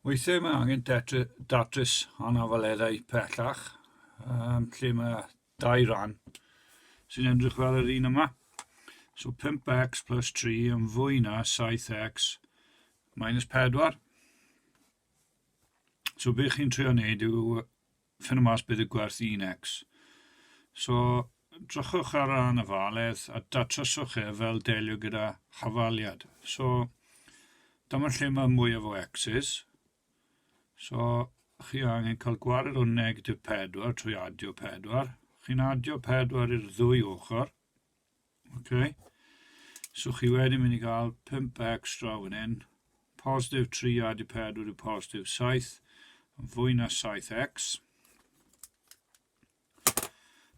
Weithiau mae angen datrys anafaeddau pellach, um, lle mae dau ran sy'n edrych fel yr un yma. So 5x plus 3 yn fwy na 7x minus 4. So beth chi'n trio wneud yw Ffinnwch mas beth yw gwerth un X. So, drychwch ar ran y faledd a datryswch e fel delio gyda hafaliad. So, dyma lle mae mwyaf o X's. So, chi angen cael gwared o negatif 4 trwy adio 4. Chi'n adio 4 i'r ddwy ochr. Okay. So chi wedi mynd i gael 5 extra fan hyn. Positif 3 a di 4 yw positif 7. Yn fwy na 7x.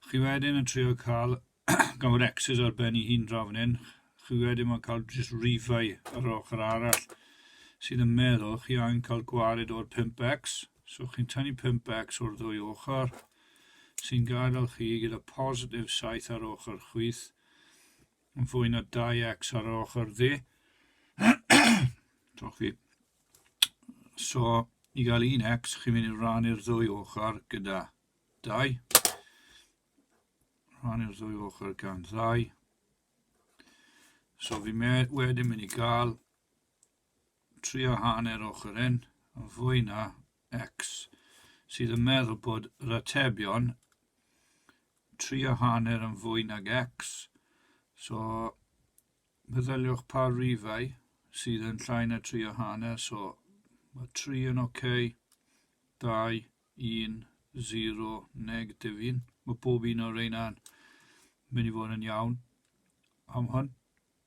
Chi wedyn yn trio cael gawr x's ar ben i hun dra fan hyn. Chi wedyn mae'n cael just rifau ar ochr arall sydd yn meddwl chi angen cael gwared o'r 5x. So chi'n tynnu 5 becs o'r ddwy ochr, sy'n gadael chi gyda positif 7 ar ochr chwith, yn fwy na 2x ar yr ochr dde. Diolch fi. So, i gael 1x, chi'n mynd i rannu'r ddwy ochr gyda 2. Rannu'r ddwy ochr gan 2. So fi wedyn mynd i gael trio hanner ochr yn fwy na X sydd yn meddwl bod yr atebion trio hanner yn fwy nag X, so meddyliwch pa rifau sydd yn llai na trio hanner, so mae 3 yn ok, 2, 1, 0, neg, difyn. Mae pob un o'r reina'n mynd i fod yn iawn am hwn.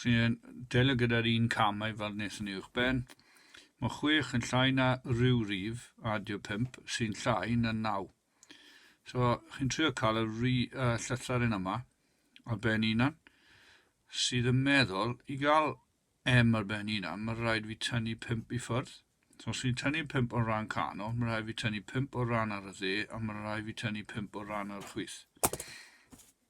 sy'n delio gyda'r un cam a'i farwnes yn ei uwchben. Mae chwech yn llai na rhyw rif, a dio pump, sy'n llai na naw. So, chi'n trio cael y ry, uh, llythyren yma ar ben unan, sydd yn meddwl, i gael M ar ben unan, mae rhaid fi tynnu pump i ffwrdd. So, os fi'n tynnu pump o'r rhan canol, mae rhaid fi tynnu pump o'r rhan ar y dde, a mae rhaid fi tynnu pump o'r rhan ar y chwith.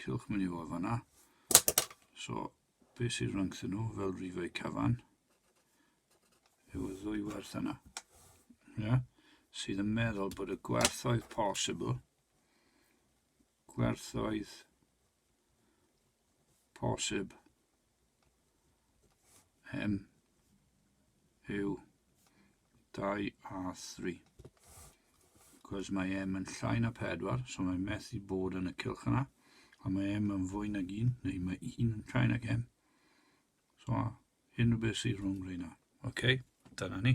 cylch mynd i fod fanna. So, be sydd rhwngthyn nhw fel rifau cyfan yw y ddwy werth yna. Yeah? Sydd yn meddwl bod y gwerthoedd posibl, gwerthoedd posib Hen yw 2 a 3. Cos mae M yn llai na 4, so mae methu bod yn y cylch yna. A mae M yn fwy nag 1, neu mae 1 yn llai nag M. So, hyn o beth sy'n rhwng reina. OK, dyna ni.